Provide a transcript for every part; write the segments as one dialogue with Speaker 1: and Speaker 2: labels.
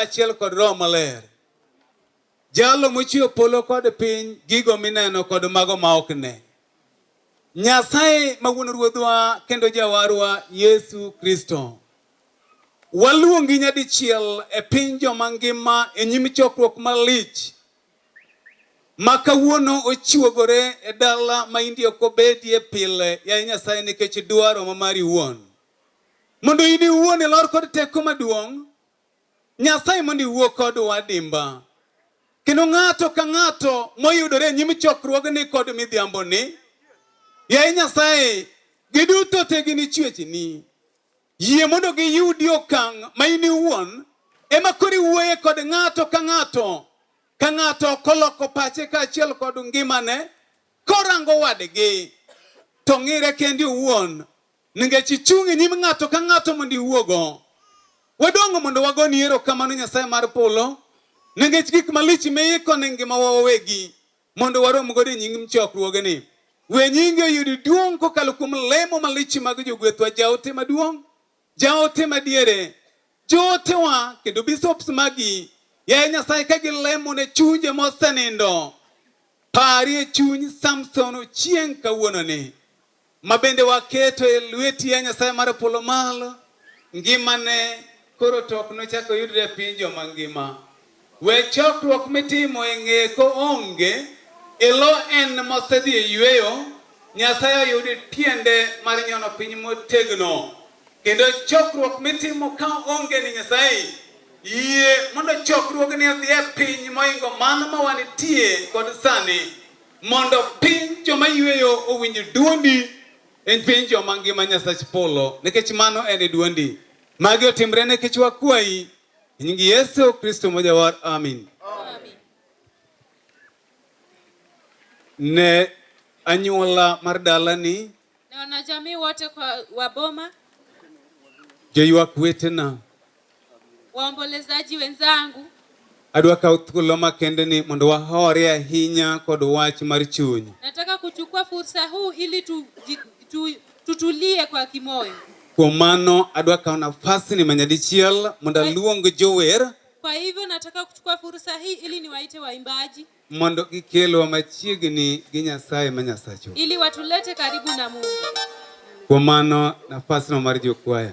Speaker 1: kaachiel kod Roho Maler. Jalo mochweyo polo kod piny, gigo mineno kod mago ma ok ne. Nyasaye ma wuon Ruodhwa kendo Jawarwa Yesu Kristo. Waluongi nyadichiel e piny joma ngima e nyim chokruok malich ma kawuono ochiwogore e dala ma indi ok obedie pile, yaye Nyasaye, nikech dwaro ma mari wuon. Mondo in iwuon ilor kod teko maduong' Nyasaye mondo iwuo kodwa adimba. Kendo ng'ato ka ng'ato moyudore e nyim chokruogni kod midhiamboni, yaye Nyasaye, giduto te gin ichwechni. Yie mondo giyudi okang' ma in iwuon ema koro iwuoye kod ng'ato ka ng'ato ka ng'ato koloko pache kaachiel kod ngimane korango wadgi to ng'ire kendi owuon Ningech ichung' e nyim ng'ato ka ng'ato mondo iwuogo. Wadongo mondo wagoni erokamano Nyasaye mar polo ningech gik malich miiko ne ngimawa wawegi mondo warom godo e nyim chokruogeni. We nyingi oyud duong' kokalo kuom lemo malich mag jogwethwa, jaote maduong', jaote madiere, Jootewa kendo bishops magi yaye Nyasaye ka gilemo ne chunje mosenindo, parie chuny Samson Ochieng' kawuononi ma bende waketo e lweti ya Nyasaye mar polo malo, ngimane koro to ok nochak oyudre e piny joma ngima. We chokruok mitimo e ng'eko onge, ilo en mosedhi e yueyo, Nyasaye oyudi tiende mar nyono piny motegno. Kendo chokruok mitimo ka onge ni Nyasaye, yie mondo chokruogni odhi e piny moingo mano ma wanitie kod sani, mondo piny joma yueyo owinj duondi en piny joma ngima Nyasach polo, nikech mano en e duondi. Magi otimre nikech wakwayi Nyingi Yesu Kristo mojawar, amin. Ne anyuola mar dalani, na wanajamii
Speaker 2: wote kwa waboma,
Speaker 1: joywak wetena,
Speaker 2: waombolezaji wenzangu, adwa kawo
Speaker 1: thuolo makende ni mondo wahore ahinya kod wach mar chuny. nataka kuchukua
Speaker 2: fursa huu ili tuji- tu, Tutulie kwa kimoyo. Kuom mano
Speaker 1: adwa kawo nafasni manyadichiel mondo aluong jower. Kwa hivyo nataka
Speaker 2: kuchukua fursa hii ili niwaite waimbaji mondo gikelwa
Speaker 1: machiegni gi Nyasaye ma Nyasachu. ili watulete
Speaker 2: karibu na Mungu. Kuom
Speaker 1: mano nafasno mar jokwaya.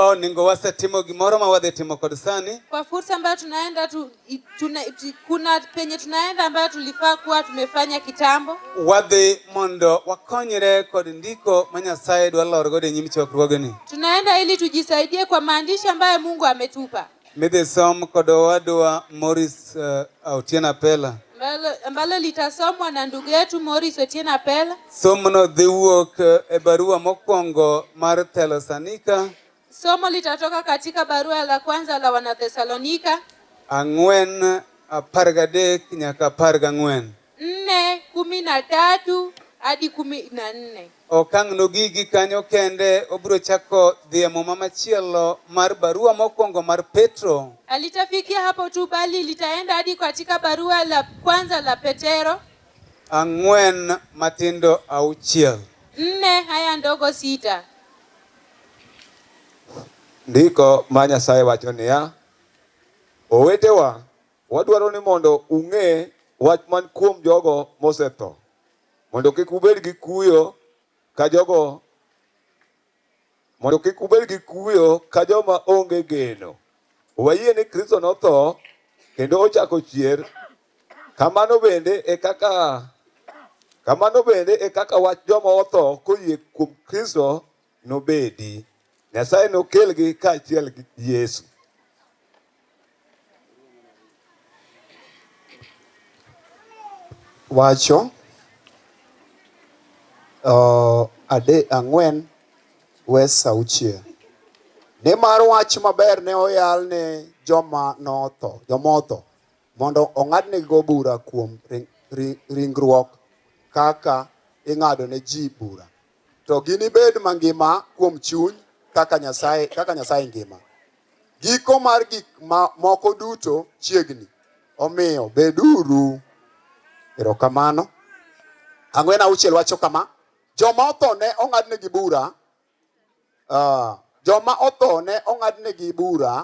Speaker 1: Oh, ningo wasetimo gimoro ma wadhi timo kod sani. Kwa fursa ambayo tunaenda
Speaker 2: tu, tuna, kuna penye tunaenda ambayo tulifaa kuwa tumefanya kitambo. Wadhi
Speaker 1: mondo wakonyre kod ndiko ma Nyasaye dwa lor godo e nyim chokruogni. Tunaenda ili
Speaker 2: tujisaidie kwa maandishi ambayo Mungu ametupa. Midhi som
Speaker 1: kod owadwa Morris uh, eh, Otieno Apela ambalo
Speaker 2: litasomwa na ndugu yetu Morris Otieno Apela. Somono dhi
Speaker 1: wuok eh, e barua mokwongo mar Thesalonika. Somo
Speaker 2: litatoka katika barua la kwanza la Wanathesalonika ang'wen apar
Speaker 1: gadek nyaka apar gang'wen. nne kumi na tatu
Speaker 2: hadi kumi na nne. Okang' nogigi
Speaker 1: kanyo kende obiro chako dhi e muma machielo mar barua mokwongo mar Petro. Alitafikia hapo
Speaker 2: tu bali litaenda hadi katika barua la kwanza la Petero. Ang'wen matindo
Speaker 1: auchiel. Nne
Speaker 2: haya ndogo sita.
Speaker 3: Ndiko ma Nyasaye wacho niya, owetewa Wadwaro ni mondo ung'e wach man kuom jogo mosetho, mondo kik ubed gi kuyo ka jogo mondo kik ubed gi kuyo ka joma onge geno. Wayie ni Kristo notho kendo ochako chier. Kamano bende e kaka kamano bende e kaka wach joma otho koyie kuom Kristo nobedi. Nyasaye nokelgi kaachiel gi Yesu.
Speaker 4: Wacho uh, ade ang'wen wes auchiel nimar wach maber ne oyal ne joma notho jomotho mondo ong'adnigo bura kuom ringruok kaka ing'ado ne ji bura To ginibed mangima kuom chuny kaka Nyasaye, kaka Nyasaye ngima. Giko mar gik ma moko duto chiegni. Omiyo beduru erokamano. Ang'wen auchiel wacho kama, joma otho ne ong'adnegi bura Uh, joma otho ne ong'adnegi bura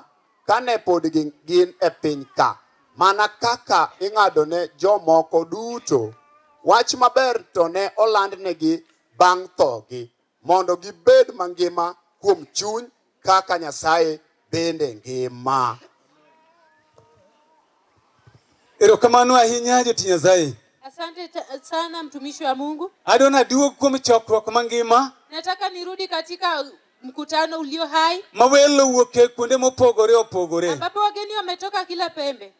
Speaker 4: kane pod gin e piny ka mana kaka ing'ado ne jomoko duto wach maber to ne olandnegi bang' thogi mondo gibed mangima kuom chuny kaka Nyasaye bende ngima.
Speaker 1: Erokamano ahinya joti Nyasaye. Asante
Speaker 2: sana mtumishi wa Mungu. Adona duog kuom
Speaker 1: chokruok mangima. Nataka nirudi
Speaker 2: katika mkutano ulio hai. Mawelo wuoke
Speaker 1: kuonde mopogore opogore. Ambapo wageni wametoka
Speaker 2: kila pembe.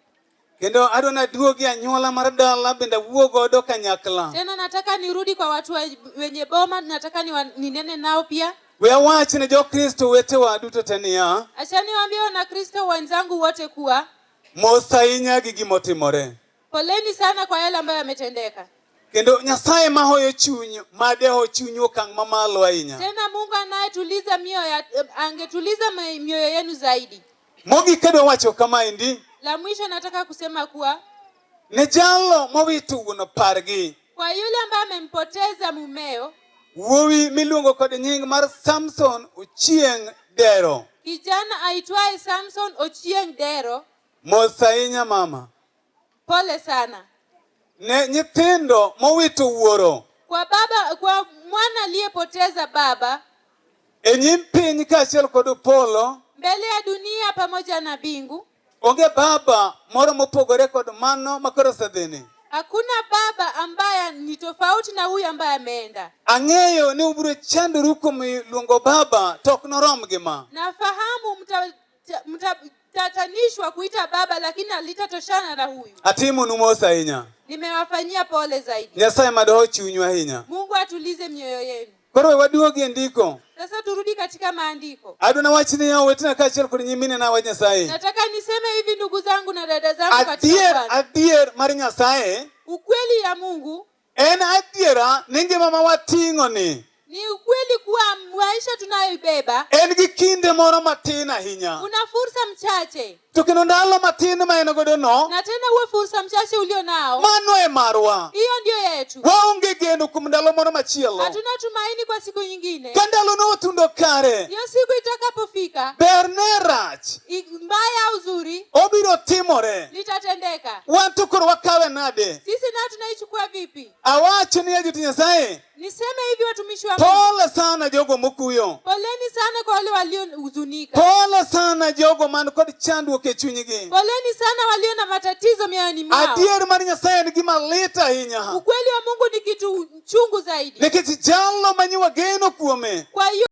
Speaker 2: Kendo
Speaker 1: adona duogi anyuola mar dala bende wuo godo kanyakla. Tena nataka nirudi
Speaker 2: kwa watu wenye boma, nataka ninene nao pia. We awach ne
Speaker 1: Jokristo wetewa duto te niya. Acha niwaambie
Speaker 2: Wanakristo wenzangu wote kuwa Mos ahinya
Speaker 1: gi gima otimore. Poleni sana
Speaker 2: kwa yale ambayo yametendeka. Kendo Nyasaye
Speaker 1: ma hoyo chuny ma deho chuny okang' mamalo ahinya. Tena Mungu anayetuliza
Speaker 2: mioyo ya- eh, angetuliza ma- mioyo yenu zaidi. Mogik kadwa
Speaker 1: wacho kama endi La mwisho nataka
Speaker 2: kusema kuwa ne jalo
Speaker 1: mowito wuon pargi Kwa yule ambaye
Speaker 2: amempoteza mumeo. Wuowi
Speaker 1: miluongo kod nying mar Samson Ochieng Dero. Kijana aitwaye
Speaker 2: Samson Ochieng Dero. Mos ahinya
Speaker 1: mama. Pole
Speaker 2: sana. Ne
Speaker 1: nyithindo mowito wuoro. Kwa baba, kwa
Speaker 2: mwana aliyepoteza baba. E nyim
Speaker 1: piny kaachiel kod polo. Mbele ya dunia
Speaker 2: pamoja na bingu. Onge baba
Speaker 1: moro mopogore kod mano makoro osedhini. Hakuna baba
Speaker 2: ambaye ni tofauti na huyu ambaye ameenda. Ang'eyo ni
Speaker 1: ubiro chandoru kuom luongo baba to ok norom gi ma. Nafahamu mta,
Speaker 2: mta, mtatanishwa kuita baba lakini alitatoshana na huyu. Atimu numos ahinya.
Speaker 1: Nimewafanyia pole
Speaker 2: zaidi. Nyasaye madoho chunyu
Speaker 1: ahinya. Mungu atulize mioyo
Speaker 2: yenu. Koro we waduogi e
Speaker 1: ndiko. Sasa turudi katika
Speaker 2: maandiko. Adwa na wach ni yao
Speaker 1: wetina kaachiel kod nyimine na wach Nyasaye. Nataka niseme hivi
Speaker 2: ndugu zangu na dada zangu katika Adier, Bwana. adier mar Nyasaye
Speaker 1: Ukweli ya
Speaker 2: Mungu en adiera
Speaker 1: ni ngima ma wating'o ni ni ukweli
Speaker 2: kuwa maisha
Speaker 1: tunayoibeba
Speaker 2: en
Speaker 1: gi
Speaker 2: kinde
Speaker 1: moro
Speaker 2: matin
Speaker 1: ahinya.
Speaker 2: una
Speaker 1: fursa
Speaker 2: mchache.
Speaker 1: To kendo ndalo matin ma en godo no. Na tena huo fursa
Speaker 2: mchache ulio nao. Mano e marwa.
Speaker 1: Hiyo ndio yetu.
Speaker 2: Waonge geno kuom
Speaker 1: ndalo moro machielo. Hatuna tumaini kwa
Speaker 2: siku nyingine. Ka ndalo no otundo
Speaker 1: kare. Hiyo siku itakapofika.
Speaker 2: Ber ne
Speaker 1: rach. Mbaya au
Speaker 2: zuri. Obiro timore.
Speaker 1: Litatendeka.
Speaker 2: Wan to koro
Speaker 1: wakawe nade? Sisi na tunaichukua
Speaker 2: vipi? Awacho ni ya
Speaker 1: Nyasaye. Niseme hivi
Speaker 2: watumishi wa Mungu. Pole sana jogo
Speaker 1: mokuyo. Poleni sana kwa
Speaker 2: wale waliohuzunika. Pole sana
Speaker 1: jogo man kod chandruok e chunygi. Poleni sana walio
Speaker 2: na matatizo mioyoni mwao. Adier mar Nyasaye en
Speaker 1: gima lit ahinya. Ukweli wa Mungu ni
Speaker 2: kitu chungu
Speaker 1: zaidi.
Speaker 2: Nikech
Speaker 1: jalo
Speaker 2: manyiwa
Speaker 1: geno
Speaker 2: kuome. Kwa hiyo